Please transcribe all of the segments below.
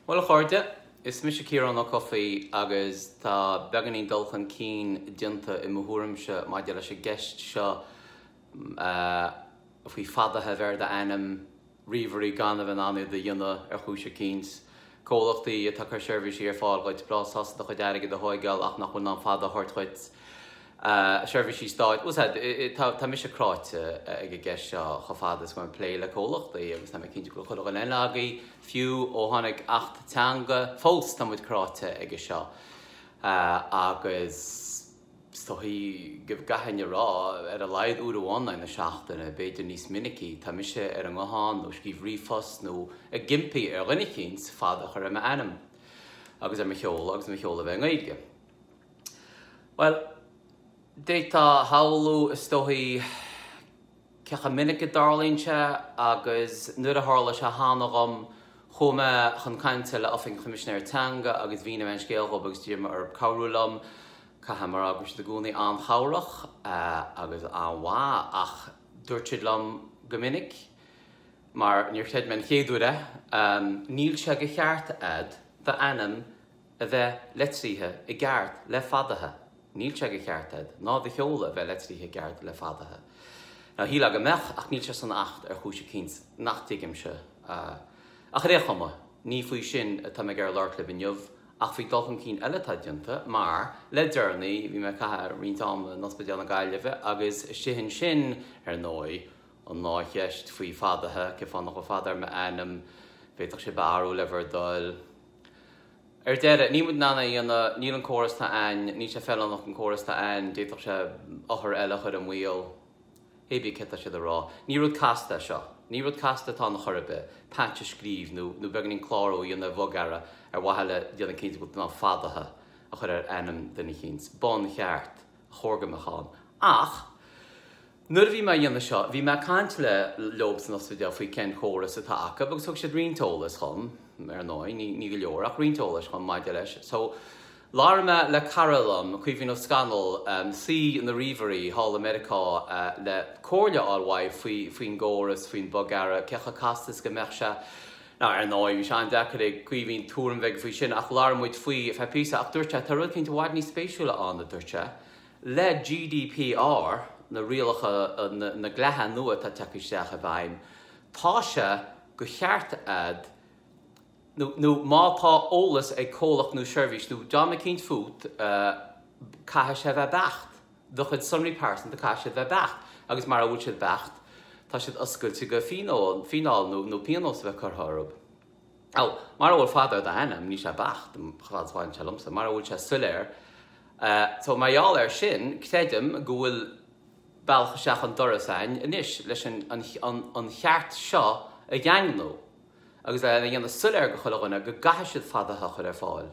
Bhuel a chairde, is mise Ciarán Ó Cofaigh agus tá beagáinín dul chun cinn déanta i mo thuairimse maidir leis an gceist seo faoi fadaithe a bheith ar d'ainm ríomhairí gan a bheith in ann iad a dhéanamh ar chúis eicínt. Comhlachtaí atá ag cur seirbhísí ar fáil dhuit, breá sásta do chuid airgid a thógáil ach nach bhfuil in ann fada a thabhairt dhuit. seirbhísí stáit. Bhuel, tá mise cráite ag an gceist seo chomh fada is go mbím ag plé le comhlachtaí agus tá mé cinnte go bhfuil chuile dhuine agaibh, fiú ó tháinig Acht Teanga. Fós tá muid cráite aige seo agus is dóigh go gcaithfinn a rá, ar a laghad uair amháin in aghaidh na seachtaine, b'fhéidir níos minicí, tá mise ar an nguthán nó ag scríobh ríomhphost nó ag impí ar dhuine eicínt fada a chur ar m'ainm agus ar mo sheoladh agus mo sheoladh a bheith i nGaeilge. Bhuel, d'fhéadfá a shamhlú, is dóigh, cé chomh minic is a tharlaíonn sé, agus nuair a tharla sé cheana dhom, chuaigh mé chun cainte le Oifig an Choimisinéara Teanga agus mhínigh mé an scéal dhóibh agus d'iarr mé orthu cabhrú liom. Caithfidh mé a rá go raibh siad i gcónaí an-chabhrach agus an-mhaith ach dúirt siad liom go minic, mar níor chreid mé an chéad uair é, Níl sé de cheart a'd d'ainm a bheith litrithe i gceart le fadaithe. Níl sé de cheart a'd ná do sheoladh a bheith litrithe i gceart le fadaithe. Now, shílfeá go mbeadh, ach níl sé san Acht ar chúis eicínt nach dtuigimse. Ach ar é chuma, ní faoi sin atá mé ag iarraidh labhairt libh inniu, ach faoi dul chun cinn eile atá déanta, mar, le deireanaí, bhí mé ag caitheamh roinnt ama in Ospidéal na Gaillimhe, agus istigh ansin, ar ndóigh, ag ardú na ceiste faoi fadaithe, cén fáth nach bhfuil fada ar m'ainm, an bhféadfadh sé a bheith air le bhur dtoil, Ar deireadh, níl muid in ann é a dhéanamh, níl, an córas atá ann, níl sé feiliúnach, an córas atá ann, d'fhéadfadh sé othair eile a chur i mbaol. Hé bí céard atá siad a rá. Ní rud casta é seo. Ní rud casta atá ann a chor ar bith, patch a scríobh nó nó beagáinín clárú a dhéanamh ar bhogearra ar mhaithe le déanamh cinnte go bhfuil tú in ann fadaithe a chur ar ainm duine eicínt. Buncheart ba chóir go mbeadh ann. Ach. Nuair a bhí mé a dhéanamh seo bhí mé ag caint le leob san ospidéal faoi cén córas atá acu agus thug siad roinnt eolais dhom, ar ndóigh ní go leor ach roinnt eolais dhom maidir leis so labhair mé le cara liom, Caoimhín Ó Scanaill, saoi na ríomhairí thall i Meiriceá le comhairle fháil uaidh faoin gcóras, faoin bogearra, cé chomh casta is go mbeadh sé. Now ar ndóigh bhí sé an-deacair ag Caoimhín tuairim bheith aige faoi sin ach labhair muid faoi ar feadh píosa ach dúirt sé tá rud eicínt i bhfad níos spéisiúla ann a dúirt sé, Le GDPR, na rialacha, na dlíthe nua atá ag teacht isteach i bhfeidhm, tá sé de cheart a'd nó, nó má tá eolas ag comhlacht nó seirbhís nó dream eicínt fút, caithfidh sé a bheith beacht. Do chuid sonraí pearsanta, caithfidh siad a bheith beacht agus mara bhfuil siad beacht, tá siad oscailte go fíneáil nó pionós a bheith curtha orthub. Ó, mara bhfuil fada ar d'ainm, níl sé beacht, chomh fada is a bhaineann sé liomsa, mara bhfuil sé soiléir. So, mar gheall air sin, creidim go bhfuil bealach isteach an doras againn anois leis an cheart seo a dhaingniú agus a dhéanamh soiléir do chuile dhuine go gcaithfidh siad fada a chur ar fáil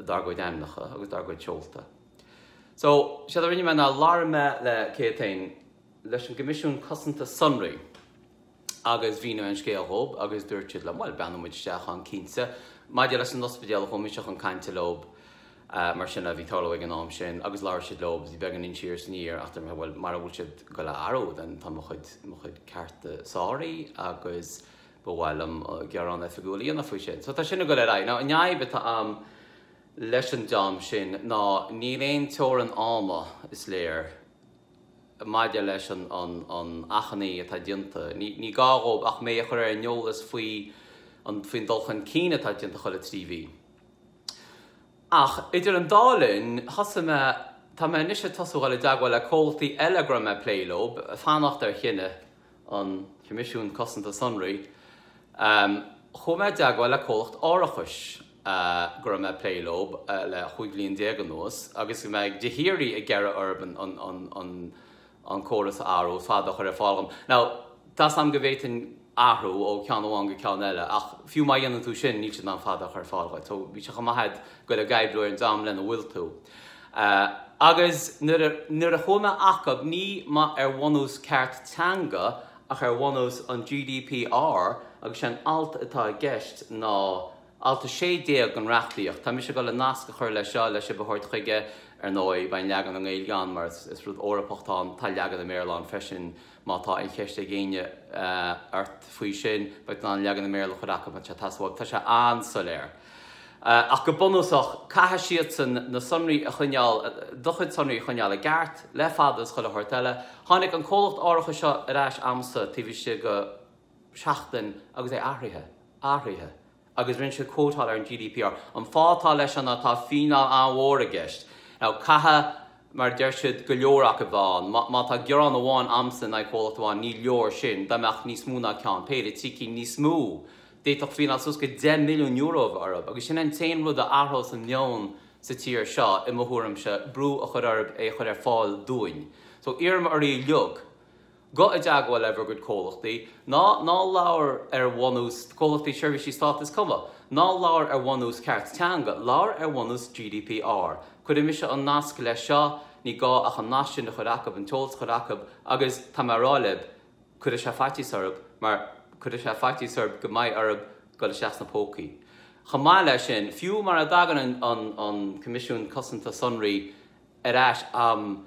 dár gcuid ainmneacha agus dár gcuid seolta. So, séard a rinne mé ná labhair mé le, cén t-ainm, leis an gCoimisiún Cosanta Sonraí. agus mhínigh mé an scéal dhóib agus dúirt siad liom, bhuel, breathnóidh muid isteach ann cinnte. Maidir leis an ospidéal, chuaigh mise chun cainte leob, mar sin a bhí ag tarlú ag an am sin, agus labhair siad leob, bhí beagáinín siar is aniar, ach dúirt mé, bhuel, mara bhfuil siad ag dul le athrú, then tá mo chuid, mo chuid cearta sáraithe agus ba mhaith liom gearán oifigiúil a dhéanamh faoi sin. So tá sin ag dul ar aghaidh. Now, an fhadhb atá a'm leis an dream sin ná níl aon teorann ama, is léir, maidir leis an achainí atá déanta. Ní gá dhóibh ach mé a chur ar an eolas faoi faoin dul chun cinn atá déanta chuile trí mhí. Ach idir an dá linn, thosaigh mé, tá mé anois ag tosú ag dul i dteagmháil le comhlachtaí eile go raibh mé ag plé leob, fanacht ar chinneadh. an Coimisiún Cosanta Sonraí, chuaigh mé i dteagmháil le comhlacht árachais go raibh mé ag plé leob le chúig bhliain déag anuas agus go, mé de shíoraí ag iarraidh orthub an córas a athrú fada a chur ar fáil dhom. Now, tá a fhios a'm go bhféadfainn athrú ó cheann amháin go ceann eile ach fiú má dhéanann tú sin níl siad in ann fada a chur ar fáil dhuit. So bhí sé chomh maith a'd Dhul ag oibriú ar an dream lena bhfuil tú. Agus nuair a chuaigh mé acub, ní mba ar bhunús ceart teanga ach ar bhunús an GDPR, agus sé an alt atá i gceist ná Alt 16 den reachtaíocht. Tá mise ag dul le nasc a chur leis seo le sibh a thabhairt chuige, ar ndóigh. Beidh an leagan i nGaeilge ann mar is rud Eorpach atá ann. Tá leagan i mBéarla ann freisin. Má tá aon cheist ag éinne ort faoi sin, beidh tú in ann leagan i mBéarla a chur acu, an sé atá sa mhug. Tá sé an-soiléir. Ach go bunúsach, caithfidh siadsan na sonraí a choinneáil, do chuid sonraí a choinneáil i gceart, le fada is chuile shórt eile. Tháinig an comhlacht árachais seo ar ais a'msa taobh istigh de sheachtain agus é athraithe. Athraithe. agus rinne sé quoteáil ar an GDPR, an fáth atá leis ná tá fíneáil an-mhór i gceist. Now caithfidh, mar a deir siad, go leor acu bheith ann. Má má tá gearán amháin a'msa in aghaidh comhlacht amháin, ní leor sin. Dá mbeadh níos mó ná ceann, péire, trí cinn níos mó, d'fhéadfadh fíneáil suas go deich milliún euro a bheith orthub. Agus sin an t-aon rud a athrós an meon sa tír seo, i mo thuairimse, brú a chur orthub é a chur ar fáil dúinn. So iarraim oraibh uiliug. go i dteagmháil le bhur gcuid comhlachtaí, ná ná labhair ar bhunús, comhlachtaí seirbhísí Stáit is cuma, ná labhair ar bhunús ceart teanga, labhair ar bhunús GDPR. Cuirfidh mise an nasc leis seo, ní gá ach an nasc sin a chur acub, an t-eolas a chur acub, agus tá mé a rá lib, cuirfidh sé faitíos orthub, mar cuirfidh sé faitíos orthub go mbeidh orthub dul isteach sna pócaí. Chomh maith leis sin, fiú mara dtagann an an Coimisiún Cosanta Sonraí ar ais am,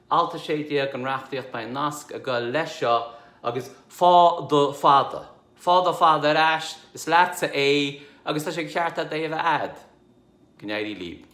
Alt 16 den reachtaíocht beidh nasc ag goil leis seo agus faigh do fada, faigh do fada ar ais, is leatsa é agus tá sé de cheart agat é a bheith agat. Go n-éirí lib.